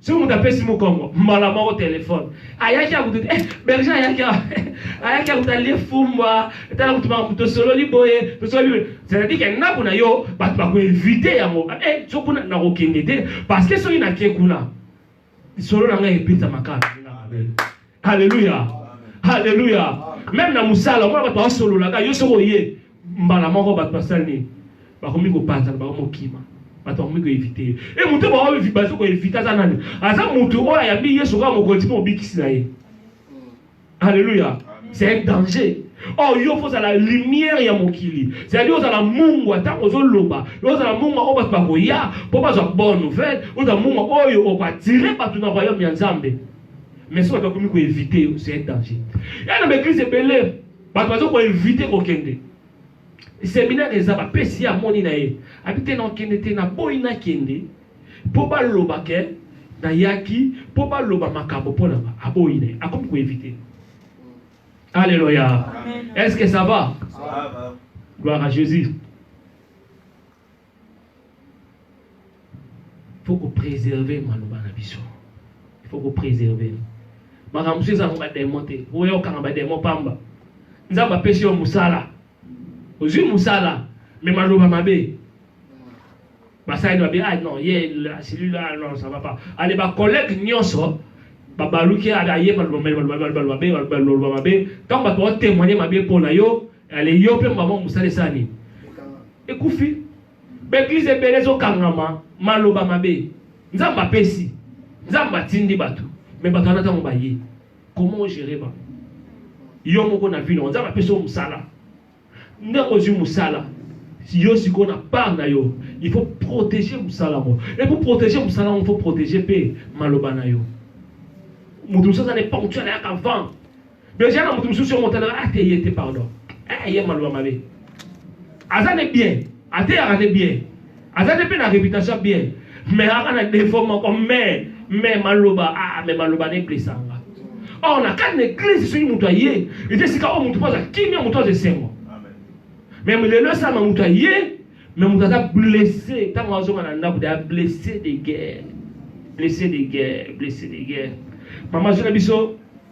soki moto apesi mokongo mbala moko telefone ayaki akutu eh, berger ayaki ayaki akutu alie fumbwa tala kutu makambo tosololi boye tosololi boye c'est-à-dire ke ndako na yo bato bakoevite yango eh, so kuna nakokende te parce que soki nake kuna lisolo na ngai ebeta makala Haleluya. Haleluya. Meme na musala mwana bato basololaka yo soko oye mbala moko bato basali nini bakomi kopanzana bango mokima bato bakomi koevite ye e moto bazo koevite aza nani aza moto oyo ayambi yesu kaka mokonzi mpe mobikisi na ye Alléluia. C'est un danger. Oh, yo faut la lumière ya mokili. C'est-à-dire ozala mungwa tango ozoloba, ozala mungwa oyo bato bakoya mpo bazwa bonne nouvelle, ozala mungwa oyo okoatire bato na royaume ya Nzambe. mais soki bato bakomi koevite yo c'est un danger ya na baeglise ebele bato baza koevite kokende seminaire eza bapesi ye amoni na ye abi te nakokende te naboyi nakende mpo baloba ke nayaki mpo baloba makambo mpo nanga aboyi na ye akomi koevite alleluya est ce que ça va gloire à jésus faut ko preserver maloba na biso il faut ko preserver makambo mosusu ezango bademo te oya okanga bademo pamba nzambe apesi yo mosala ozwi mosala me maloba mabe basali babe ah non ye celui là ah, non ça va pas ale bacollègue nyonso babaluki aye maloba mabe maloba mabe ntango bato baotemoigne mabe mpo na yo Ale yo pe maman musala esala nini? Ekufi. Ba eglise ebele ezokangama maloba mabe. Nzambe apesi. Nzambe atindi bato. Me bato wana ntango baye. Comment ogere bango? Yo moko na vino. Nzambe apesi yo mosala. Ndenge ozwi mosala. yo sikoyo na part na yo il faut protéger mosala yango e pour protéger mosala yango il faut protéger mpe maloba na yo moto mosusu aza na eponctuel ayaka vent Deja na mutu mususu yo motalaka ate ye te pardon. Eh ye maluba mabe. Aza ne bien, ateyaka ne bien. Aza ne pe na reputation bien. Mais aka na défaut moko mais mais maluba ah mais maluba ne blessanga. Or na kati na eglise soki mutu aye, ete sika oyo mutu poza kimia mutu aza esengo. Mais lelo esama mutu aye me moto aza blesse ntango azonga na ndako deya blesse de guerre blesse de guerre blesse de guerre mama azwi na biso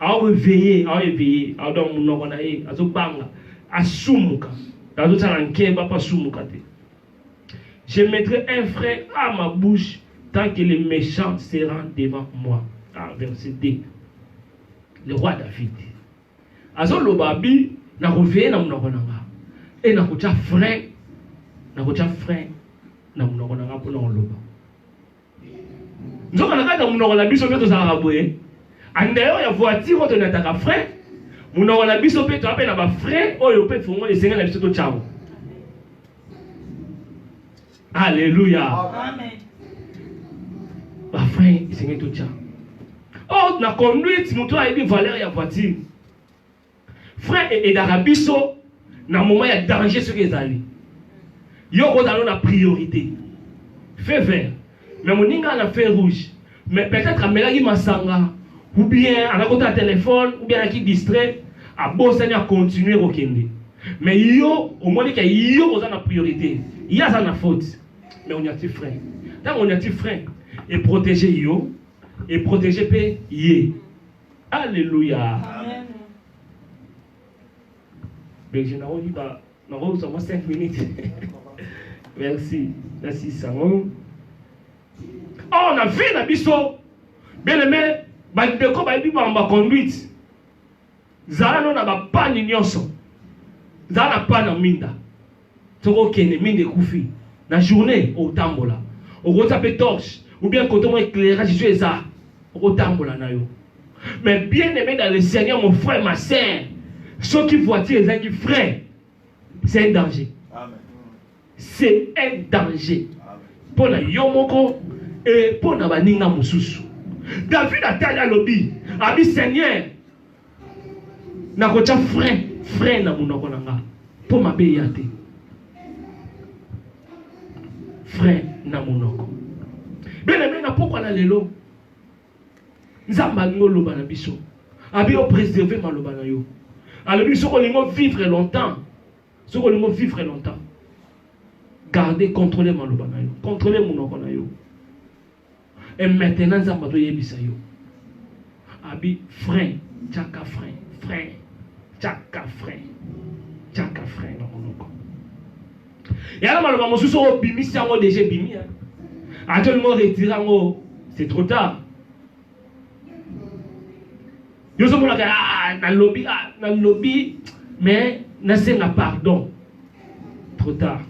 Ao veiller, ao éveiller, ao donc munoko na ye azo banga asumuka. Azo tsala nkeba pa sumuka te. Je mettrai un frein à ma bouche tant que les méchants seront devant moi. Ah, verset 2. Le roi David. Azo loba bi na ko veiller na munoko na nga. Et na ko tsa frein, na ko tsa frein na munoko na nga pona ko loba. nzoka na kati ya monoko na biso mpe tozalaka boye andayo ya voiture oyo tonataka frais monoko na biso mpe toa mpe na bafrais oyo mpe fongo esengeli na biso totyango alleluya bafrais esengeli totya o oh, na conduite moto ayebi valeur ya voiture Frère et edaka biso na moment ya danger soki ezali. Yo kozalo na priorité. Feu vert. Mais moninga na feu rouge. Mais peut-être amelaki masanga ou bien anakota téléphone ou bien anaki distrait abosani a continuer kokende. Mais yo omoni ke yo oza na priorité. Ye aza na faute. Mais on y a ti frein. Ntango on y a ti frein, eprotege yo, eprotege mpe ye. Alleluia. Amen. Berger na oyi ba na oyi sama 5 minutes. Merci. Merci Sango. Oh na vie na biso. Bele me ba ndeko ba bi ba ba conduite. Zala no na ba pani nyonso. Zala na pana minda. soki okende minda ekufi na journée otambola okotia mpe torche ou bien koto mwa éclairage so eza okotambola na yo mais bien aimé dans le seigneur mon frère ma sœur soki voiture ezangi frein c'est un danger c'est un danger mpo na yo moko e mpo na baninga mosusu david atali alobi abi seigneur nakotya frein frein na monoko na nga mpo mabe ya te frein na monoko bene bene na pokwa na lelo nzambe alingi oloba na biso abi opreserve maloba na yo alobi soki olingi vivre longtemps soki olingi vivre longtemps garde controle maloba na yo controle monoko na yo Et maintenant, Nzamba to yebisa yo. Abi frein, chaka frein, frein, chaka frein, chaka frein na monoko. Yala maloba mosusu oyo bimisi yango deja ebimi. Atolingo retire yango, c'est trop tard. yo ozomonaka ah, nalobi ah, nalobi mais nasenga pardon trop tard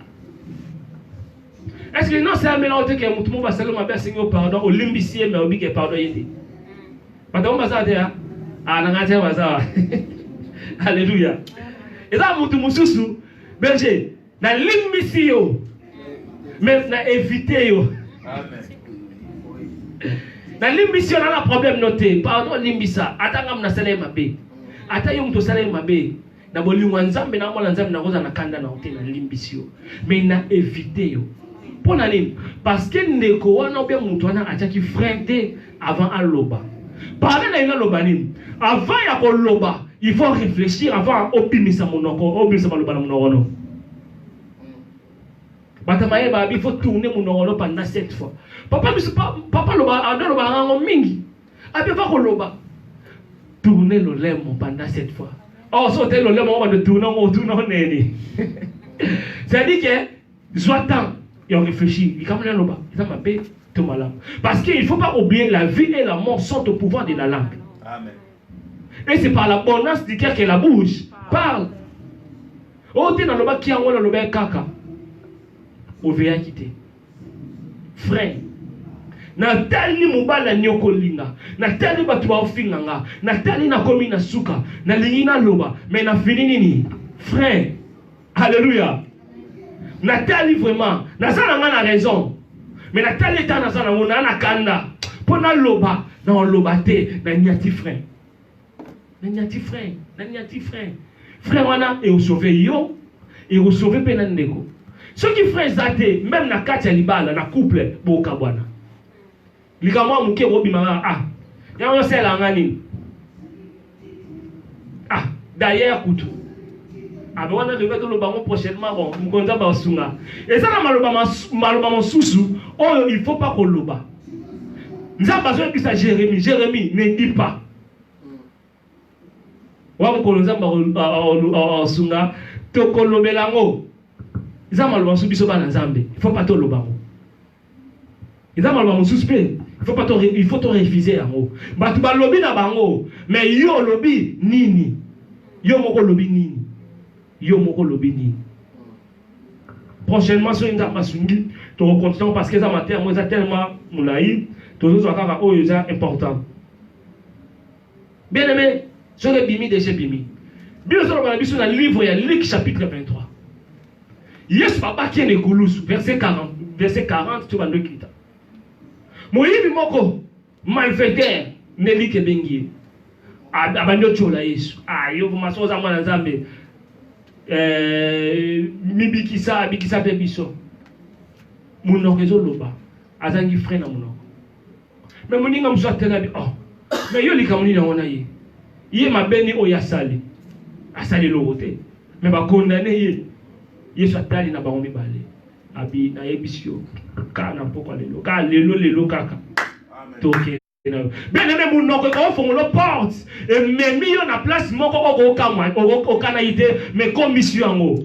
est ce que non seamela ote ke motu mo basali mabe asengi yo pardon olimbisi ye mais obi ke pardon ye te bato yango baza te a na ngai te baza alleluya eza motu mosusu berger Na limbisi yo. Mais na éviter yo. Amen. Na limbisi yo na na problème no te. Pardon limbisa. Ata ngam na sala ye mabe. Ata yo moto osala ye mabe. Na bolingo ya Nzambe na mwana Nzambe nakoza na kanda na te na limbisi yo. Mais na éviter yo. Mpo na nini? Parce que ndeko wana ou bien moto wana atiaki frein te Avant aloba. Parler na ina loba nini? Avant ya koloba, il faut réfléchir avant obimisa monoko, obimisa maloba na monoko no. Bata maye ba il faut tourner monoko no pendant cette fois. Papa biso papa loba ando loba ngango mingi. Abi va koloba. Tourner le lemo pendant cette fois. Oh, so te le lemo on va de tourner, on tourne neni. C'est-à-dire que Zwa temps ya réfléchir likambo na loba eza mabe to malamu parce que il faut pas oublier la vie et la mort sont au pouvoir de la langue Amen. et c'est par la bonance du cœur que la bouche parle oyo oh, te nalobaki yango nalobaki kaka oveyaki te frai natali mobali anyokolinga natali bato baofinga nga natali nakomi na suka nalingi naloba me na fini nini frai Alléluia. Natali vraiment, naza na nga na raison. Mais natali eta naza na ngo na na kanda. Mpo naloba, naoloba te, nanyati frein. Nanyati frein, nanyati frein. Frein wana eosauve yo, eosauve mpe na ndeko. Soki frein eza te, meme na kati ya libala, na couple, bokabwana. likambo ya moke okobima kaka ah yango osalelaka nga nini ah d'ailleurs kutu abe wana tokoki toloba yango prochainement bon mokonzi ya basunga eza na maloba maloba mosusu oyo il faut pas koloba nzambe azoyebisa jérémie jérémie ne dit pas wa mokolo nzambe asunga tokolobela yango eza maloba mosusu biso bana nzambe il faut pas toloba yango eza maloba mosusu mpe faut pas to il faut to refuser yango bato balobi na bango mais yo olobi nini yo moko olobi nini yo moko olobi nini prochainement soki nzambe asungi tokocontinue parce que eza mateya yango eza tellement molai tozozwa kaka oyo eza important Bien aimé, soki ebimi deja ebimi. Bino ezoloba na biso na livre ya Luc chapitre 23. Yesu babaki ye na ekulusu verset 40 verset 40 to bando ekita. Moyibi moko malfaiteur Melike ebengi ye. Abandi otyola Yesu. Ah yo vraiment soki oza mwana Nzambe eh, mibikisa abikisa mpe biso. Monoko ezoloba azangi frein na monoko. me moninga mosusu atelabi oh. me yo likambo nini yango na ye ye mabe ni oyo asali asali eloko te me bakondane ye yesu atali na bango mibale abi nayebisi yo kaka na mpokwa lelo kaka lelo lelo kaka toke bien aime monoko ekofongola porte ememi yo na place moko okokamwa okanaki te me komisi yo yango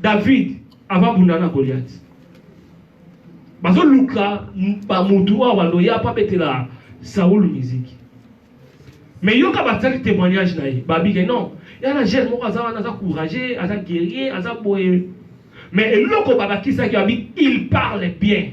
David avant bunda na Goliath. Bazo luka ba mutu wa wando ya pa betela Saul musique. Mais yoka bataki témoignage na ye. Babi ke non. Ya na jeune moko aza wana aza courageux, aza guerrier, aza boye. Mais eloko babakisaki abi il parle bien.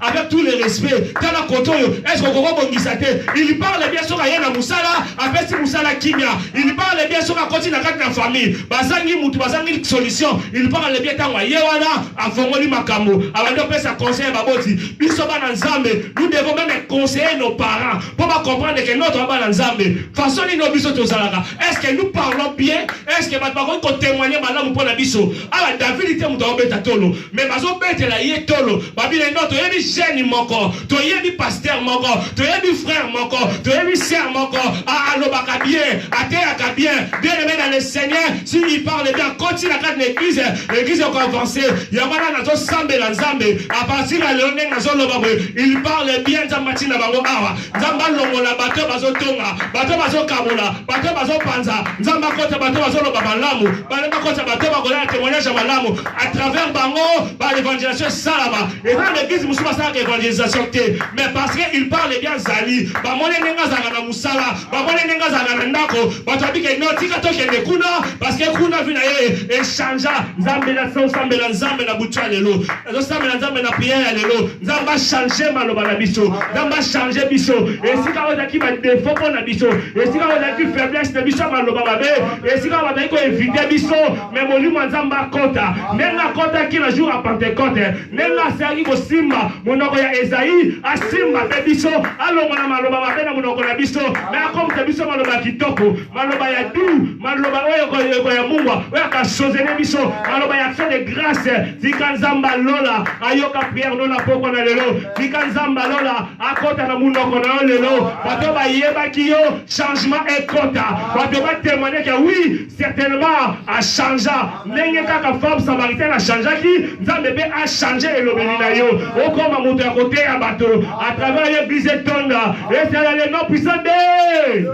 Avec tous les respects, tala koto oyo, est-ce que koko bongisa te? Il parle bien soka ye na musala, apesi musala kimia. Il parle bien soka koti na kati na famille. Bazangi mutu, bazangi solution. Il parle bien tango ye wana afongoli makambo. Abandi opesa conseil ba boti. Biso bana Nzambe, nous devons même conseiller nos parents pour ba comprendre que notre bana Nzambe. Façon ni no biso tozalaka. Est-ce que nous parlons bien? Est-ce que bato bakoki ko témoigner malamu pona biso? Ala David te mutu obeta tolo. me bazobetela ye tolo babile no toyebi jeune moko toyebi paster moko toyebi frère moko toyebi ser moko alobaka bien ateyaka bien bien aime dans le seigneur si il parle bien koti na kati na église église eko avance yango wana nazosambela nzambe apartir ya lelo ndenge nazoloba boye il parle bien nzambe atina bango awa nzambe alongola bato bazotonga bato bazokabola bato bazopanza nzambe akota bato bazoloba malamu balemba kota bato bakolala témoignage ya malamu à travers bango ba l'évangélisation esalama eza na église mosusu basalaka évangélisation te mais parce que il parle bien azali bamoni ndenge azalaka na mosala bamoni ndenge azalaka na ndako bato babike no tika tokende kuna parce que kuna vi na ye echangea nzambe nasambela nzambe na butu ya lelo nazosambela nzambe na priere ya lelo nzambe achange maloba na biso nzambe achange biso esika oyo ezalaki badefo mpo na biso esika oyo ezalaki faiblesse na biso ya maloba mabe esika oyo bazalaki koevite biso me molimo ya nzambe akota ndenge akotaki na jour ya pentecote ndenge asilaki kosimba monoko ya ezai asimba mpe biso alongola maloba mabe na monoko na biso me akomisa biso maloba ya kitoko maloba ya du maloba oyo ekoyamungwa oyo akasozele biso maloba ya action de grâce tika nzambe alola ayoka priere no na pokwa na lelo tika nzambe alola akota na monoko na yo lelo bato bayebaki yo changement ekota bato batemoigneke wi Certainement a changea ndenge kaka femme samaritaine a changeaki nzambe mpe a change elobeli na yo okoma moto ya koteya bato à travers l'église etonda esala le nom puissant de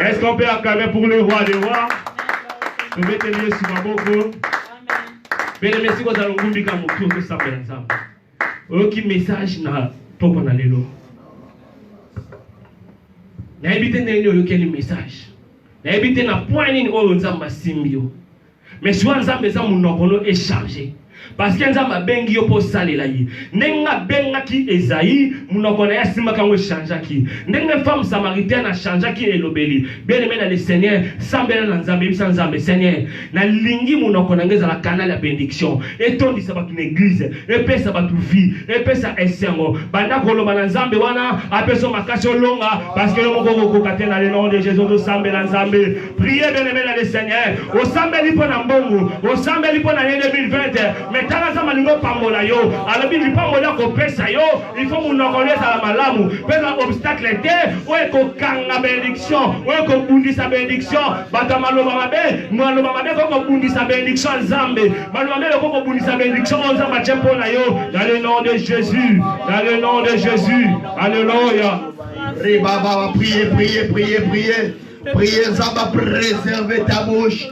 est-ce qu'on peut acclamer pour le roi des rois tobeteli yesu maboko bele mesi kozala ngumbi ka motu okosambela nzambe oyoki message na pokwa na lelo nayebi te ndenge nini oyokeli message nayebi te na point nini oyo nzambe asimbi yo mais siwa nzambe eza monoko no echarge parce que nzambe abengi yo mpo osalela ye ndenge abengaki ezai monoko na ye asimbaka yango echangeaki ndenge femme samaritaine achangeaki elobeli bien aime na le seigneur sambela na nzambe yebisa nzambe seigneur Na lingi monoko na ngai ezala canal ya benediction, etondisa bato na eglise, epesa bato vie, epesa esengo. Banda koloba na Nzambe wana apeso makasi olonga, parce que yo moko okokoka te na le nom de Jésus tosambela Nzambe. Priez bien aimé na le Seigneur. Osambeli mpo na mbongo, osambeli mpo na ye 2020, mais tala Nzambe alingi opambola yo. Alobi lipamboli akopesa yo Il faut monoko nde ezala malamu mpe eza obstacle te oyo ekokanga benediction oyo ekobundisa benediction bato ya maloba mabe maloba mabe ekoki kobundisa benediction ya nzambe maloba mabe ekoki kobundisa benediction oyo nzambe atye mpo na yo dans le nom de jésus dans le nom de jésus alleluia ribaba priye priye priye priye priye nzambe preserve ta bouche